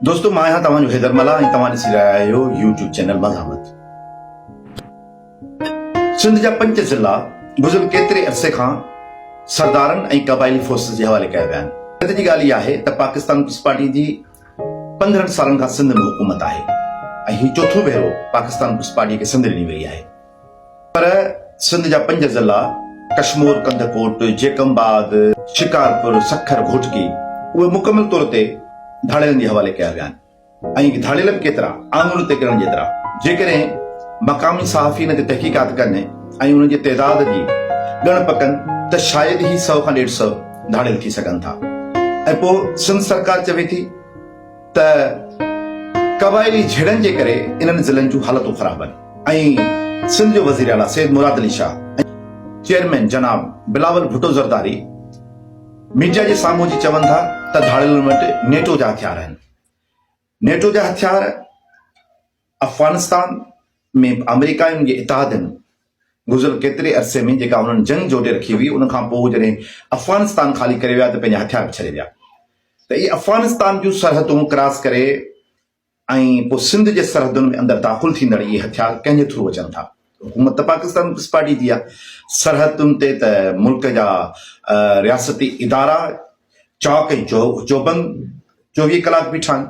دوستو مان آهيان توهان جو حيدر ملاح ۽ توهان ڏسي رهيا آهيو يوٽيوب چينل مزاحمت سنڌ جا پنج ضلع گذريل ڪيتري عرصي کان سردارن ۽ قبائلي فورسز جي حوالي ڪيا ويا آهن حيرت جي ڳالهه اها آهي ته پاڪستان پيپلز پارٽي جي پندرهن سالن کان سنڌ ۾ حڪومت آهي ۽ هي چوٿون ڀيرو پاڪستان پيپلز پارٽي کي سنڌ ڏني وئي آهي پر سنڌ جا پنج ضلعا ڪشمور، ڪنڌڪوٽ، جيڪب آباد، شڪارپور، سکر، گهوٽڪي اهي مڪمل طور تي ڌاڙيلن جي حوالي ڪيا ويا آهن ۽ ڌاڙيل به ڪيترا آڱرن تي ڳڻڻ جيترا جيڪڏهن مقامي صحافي ان تي تحقيقات ڪن ۽ انهن جي تعداد جي ڳڻپ ڪن ته شايد ئي سؤ کان ڏيڍ سؤ ڌاڙيل ٿي سگهن ٿا ۽ پوء سنڌ سرڪار چوي ٿي ته قبائلي جهيڙن جي ڪري انهن ضلعن جون حالتون خراب آهن ۽ سنڌ جو وزير اعليٰ سيد مراد علي شاهه ۽ چيئرمين جناب بلاول ڀٽو زرداري ميڊيا جي سامهون اچي چون ٿا ته ڌاڙيلن وٽ نيٽو جا هٿيار آهن نيٽو جا هٿيار افغانستان ۾ آمريڪا ۽ ان جي اتحادين گذريل ڪيتري عرصي ۾ جيڪا انهن جنگ جوٽي رکي هئي ان کان پوء جڏهن افغانستان خالي ڪري ويا ته پنهنجا هٿيار به ڇڏي ويا ته اهي افغانستان جون سرحدون ڪراس ڪري ۽ پوء سنڌ جي سرحدن ۾ اندر داخل ٿيندڙ اهي هٿيار ڪنهن جي ٿرو اچن ٿا. حڪومت ته پاڪستان پيپلز پارٽي جي آهي، سرحدن تي ته ملڪ جا رياستي ادارا چاڪ ۽ چوبند چوويهه ڪلاڪ بيٺا آهن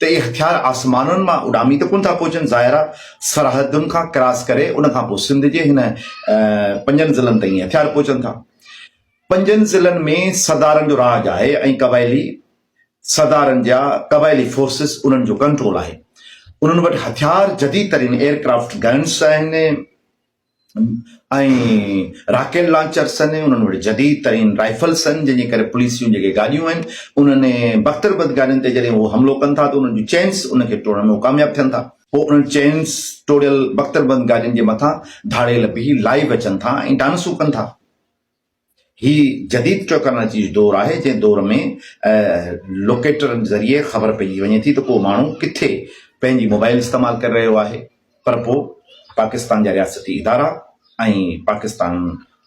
ته اهي هٿيار آسمانن مان اڏامي ته ڪونه ٿا پهچن، ظاهر آهي سرحدن کان ڪراس ڪري ان کان پوء سنڌ جي هن پنجن ضلعن تائين هٿيار پهچن ٿا. پنجن ضلعن ۾ سردارن جو راڄ آهي ۽ قبائلي سردارن جا قبائلي فورسز انهن جو ڪنٽرول آهي انهن وٽ هٿيار جديد ترين ايئر ڪرافٽ گنس آهن ۽ راڪيل لانچرس آهن انهن وٽ جديد ترين رائفلس آهن جن جي ڪري پوليس جون جيڪي گاڏيون آهن انهن بختر بد گاڏين تي جڏهن هو حملو ڪن ٿا ته انهن جون چينس ان کي ٽوڙڻ ۾ هو ڪامياب ٿين ٿا پوء انهن چينس ٽوڙيل بختر بند گاڏين جي مٿان ڌاڙيل بيهي لائيو اچن ٿا ۽ ڊانسون ڪن ٿا. هي جديد ٽيڪنالاجي جو دور آهي جنهن دور ۾ لوڪيٽرن ذريعي خبر پئجي وڃي ٿي ته ڪو ماڻهو ڪٿي پنهنجي موبائل استعمال ڪري رهيو آهي پر پوء پاڪستان جا رياستي ادارا ۽ پاڪستان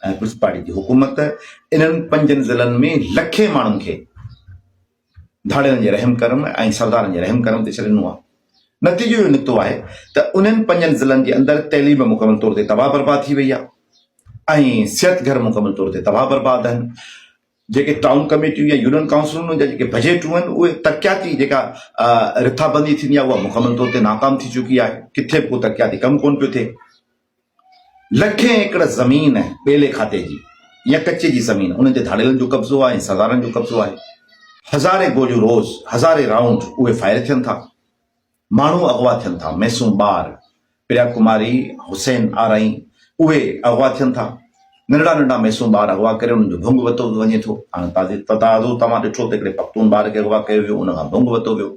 پيپلز پارٽي جي حڪومت انهن پنجن ضلعن ۾ لکين ماڻهن کي ڌاڙيلن جي رحم ڪرم ۽ سردارن جي رحم ڪرم تي ڇڏي ڏنو آهي. نتيجو اهو نڪتو آهي ته انهن پنجن ضلعن جي اندر تعليم مڪمل طور تي تباهه برباد ٿي وئي آهي ۽ صحت گهر مڪمل طور تي تباهه برباد آهن. جيڪي ٽائون ڪميٽيون يا يونين ڪائونسلون جا جيڪي بجيٽون آهن اهي ترقياتي جيڪا رٿابندي ٿيندي آهي اها مڪمل طور تي ناڪام ٿي چڪي آهي. ڪٿي به ڪو ترقياتي ڪم ڪونه پيو ٿئي. لکين ايڪڙ زمين ٻيلي کاتي جي يا ڪچي جي زمين انهن تي ڌاڙيلن جو قبضو آهي ۽ سردارن جو قبضو آهي. هزارين گوليون روز هزارين رائونڊ اهي فائر ٿين ٿا. ماڻهو اغوا ٿين ٿا ميسون ٻار پريا ڪماري حسين آرائين اهي اغوا ٿين ٿا. ننڍڙا ننڍڙا ميسون ٻار اغوا ڪري انهن جو ڀونگ وتو وڃي ٿو. هاڻ تازو توهان ڏٺو ته هڪڙي پختون ٻار کي اغوا ڪيو ويو ان کان ڀونگ وتو ويو.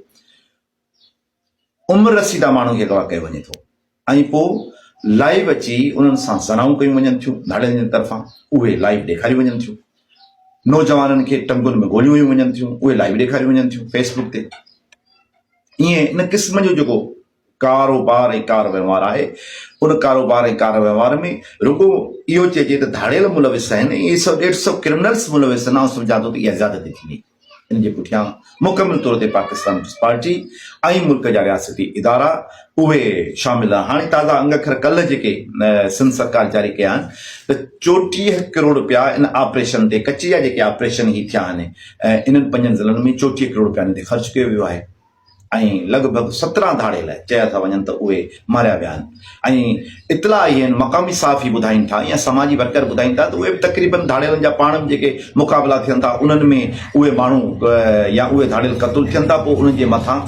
عمر رسيده ماڻهن کي اغوا ڪيو وڃي ٿو ۽ پوء لائيو اچي انهن سان زنائون ڪيون وڃن ٿيون، ڌاڙيلن جي طرفان اهي لائيو ڏيکاريون وڃن ٿيون، نوجوانن کي ٽنگن ۾ گوليون هيون وڃن ٿيون، اهي لائيو ڏيکاريون وڃن ٿيون فيس بڪ تي. ايئن ان قسم جو جيڪو ڪاروبار ۽ ڪار وهنوار آهي ان ڪاروبار ۽ ڪار وهنوار ۾ رڳو اهو چئجي ته ڌاڙيل ملوث آهن ۽ اهي سو ڏيڍ سو ڪرمنلز ملوث آهن آئون سمجهان ٿو ته اها زيادتي ٿيندي. ان جي پٺيان مڪمل طور تي پاڪستان پيپلز پارٽي ۽ ملڪ جا رياستي ادارا اهي شامل آهن. هاڻي تازا انگ اکر ڪلهه جيڪي سنڌ سرڪار جاري ڪيا آهن ته چوٽيهه ڪروڙ رپيا ان آپريشن تي ڪچي جا جيڪي آپريشن هي ٿيا آهن انهن پنجن ضلعن ۾ چوٽيهه ڪروڙ رپيا انهن تي خرچ ڪيو ويو آهي. ۽ لڳ ڀڳ سترهن ڌاڙيل چيا ٿا وڃن ته اهي ماريا ويا آهن ۽ اطلاع اهي آهن مقامي صحافي ٻڌائين ٿا يا سماجي ورڪر ٻڌائين ٿا ته اهي به تقريبن ڌاڙيلن جا پاڻ ۾ جيڪي مقابلا ٿين ٿا انهن ۾ اهي ماڻهو يا اهي ڌاڙيل قتل ٿين ٿا پوء انهن جي مٿان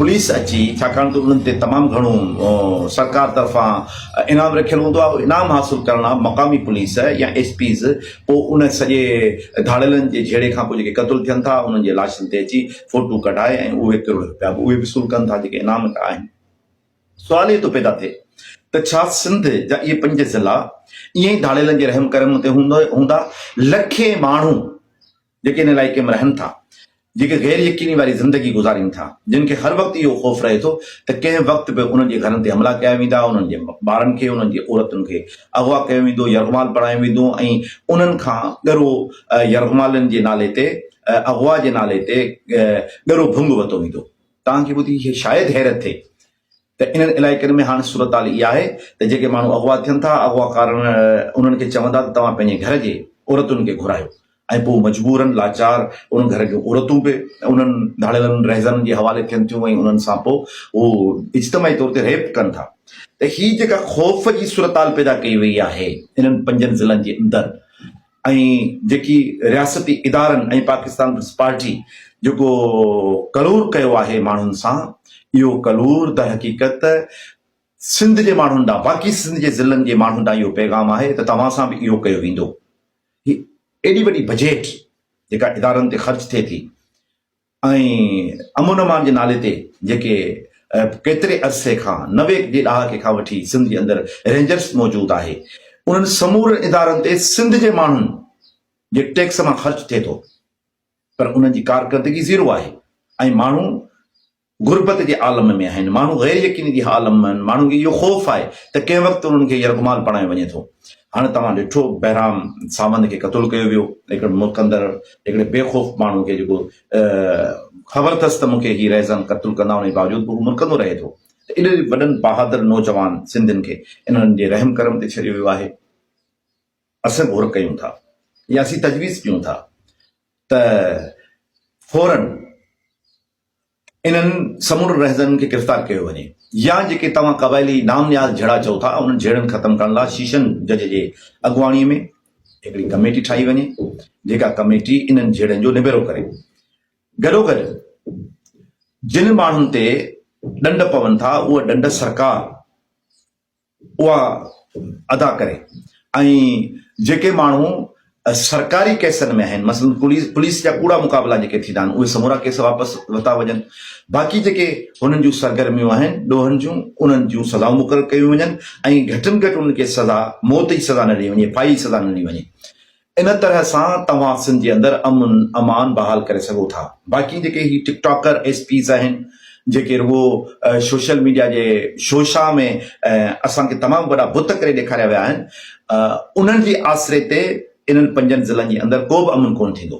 پوليس اچي ڇاڪاڻ ته انهن تي تمام گهڻو سرڪار طرفان انعام رکيل هوندو آهي انعام حاصل ڪرڻ لاء مقامي پوليس يا ايس پيز پوء ان سڄي ڌاڙيلن جي جهيڙي کان پوء جيڪي قتل ٿين ٿا انهن جي لاشن تي اچي فوٽو ڪڍائي ۽ اهي ڪروڙ رپيا به اهي وصول ڪن ٿا جيڪي انعام ڪيا آهن. سوال اهو ٿو پيدا ٿئي ته ڇا سنڌ جا اهي پنج ضلع ائين ئي ڌاڙيلن جي رحم ڪرم تي هوندا؟ لکين ماڻهو جيڪي ان علائقي ۾ رهن ٿا، جيڪي غير يقيني واري زندگي گذارين ٿا، جن کي هر وقت اهو خوف رهي ٿو ته ڪنهن وقت به انهن جي گهرن تي حملا ڪيا ويندا، انهن جي ٻارن کي، انهن جي عورتن کي اغوا ڪيو ويندو، يرغمال بڻايو ويندو ۽ انهن کان ڳرو يرغمالن جي نالي تي اغوا جي نالي تي ڳرو ڀنگ وتو ويندو. توهان کي ٻڌي شايد حيرت ٿئي ته انهن علائقن ۾ هاڻ صورتحال اها آهي ته جيڪي ماڻهو اغوا ٿين ٿا، اغواڪارن انهن کي چون ٿا ته توهان پنهنجي گهر جي عورتن کي گهرايو ۽ پوء مجبورن لاچار ان گهر جون عورتون به انهن ڌاڙيلن رهزنن جي حوالي ٿين ٿيون ۽ انهن سان پوء هو اجتماعي طور تي ريپ ڪن ٿا. ته هي جيڪا خوف جي صورتحال پيدا ڪئي وئي آهي انهن پنجن ضلعن جي اندر ۽ جيڪي رياستي ادارن ۽ پاڪستان پيپلز پارٽي جيڪو ڪلور ڪيو آهي ماڻهن سان اهو ڪلور در حقيقت سنڌ جي ماڻهن ڏانهن باقي سنڌ جي ضلعن جي ماڻهن ڏانهن اهو پيغام آهي ته توهان سان به اهو ڪيو ويندو هي ايڏي وڏي بجيٽ جيڪا ادارن تي خرچ ٿئي ٿي ۽ امن امان جي نالي تي جيڪي ڪيتري عرصي کان نوي جي ڏهاڪي کان وٺي سنڌ جي اندر رينجرس موجود آهي انهن سمورن ادارن تي سنڌ جي ماڻهن جي ٽيڪس مان خرچ ٿئي ٿو پر انهن جي ڪارڪردگي زيرو آهي ۽ ماڻهو غربت جي عالم ۾ آهن ماڻهو غير يقيني جي عالم ۾ آهن ماڻهن کي اهو خوف آهي ته ڪنهن وقت انهن کي يرغمال بڻايو وڃي ٿو هاڻي توهان ڏٺو بهرام ساوند کي قتل ڪيو ويو هڪڙي ملڪ اندر هڪڙي بي خوف ماڻهو کي جيڪو خبر اٿس ته مون کي هي رهزن قتل ڪندا ان جي باوجود به هو مرڪندو رهي ٿو ته ايڏن وڏن بهادر نوجوان سنڌين کي انهن جي رحم ڪرم تي ڇڏيو ويو آهي اسين غور ڪيون ٿا يا اسين تجويز ڪيون ٿا ته فورن انهن سمورن رهزنن کي گرفتار ڪيو وڃي يا جيڪي توهان قبائلي نام نياز جھڙا چئو ٿا انهن جھيڙن ختم ڪرڻ لاء شيشن جج جي اڳواڻي ۾ هڪڙي ڪميٽي ٺاهي وڃي جيڪا ڪميٽي انهن جھيڙن جو نبيرو ڪري گڏوگڏ جن ماڻهن تي ڏنڊ پون ٿا اهي ڏنڊ سرڪار اها ادا ڪري ۽ جيڪي ماڻهو سرڪاري ڪيسن ۾ آهن مثلا پوليس جا ڪوڙا مقابلا جيڪي ٿيندا آهن اهي سمورا ڪيس واپس ورتا وڃن باقي جيڪي هنن جون سرگرميون آهن ڏوهن جون انهن جون سزائون مقرر ڪيون وڃن ۽ گهٽ ۾ گهٽ انهن کي سزا موت جي سزا نه ڏني وڃي ڦاهي جي سزا نه ڏني وڃي ان طرح سان توهان سنڌ جي اندر امن امان بحال ڪري سگهو ٿا باقي جيڪي هي ٽڪ ٽاڪر ايس پيز آهن جيڪي رڳو سوشل ميڊيا جي شو شاھ ۾ اسان کي تمام وڏا بت ڪري ڏيکاريا ويا آهن انهن جي آسري تي انهن پنجن ضلعن جي اندر ڪو به امن ڪونه ٿيندو.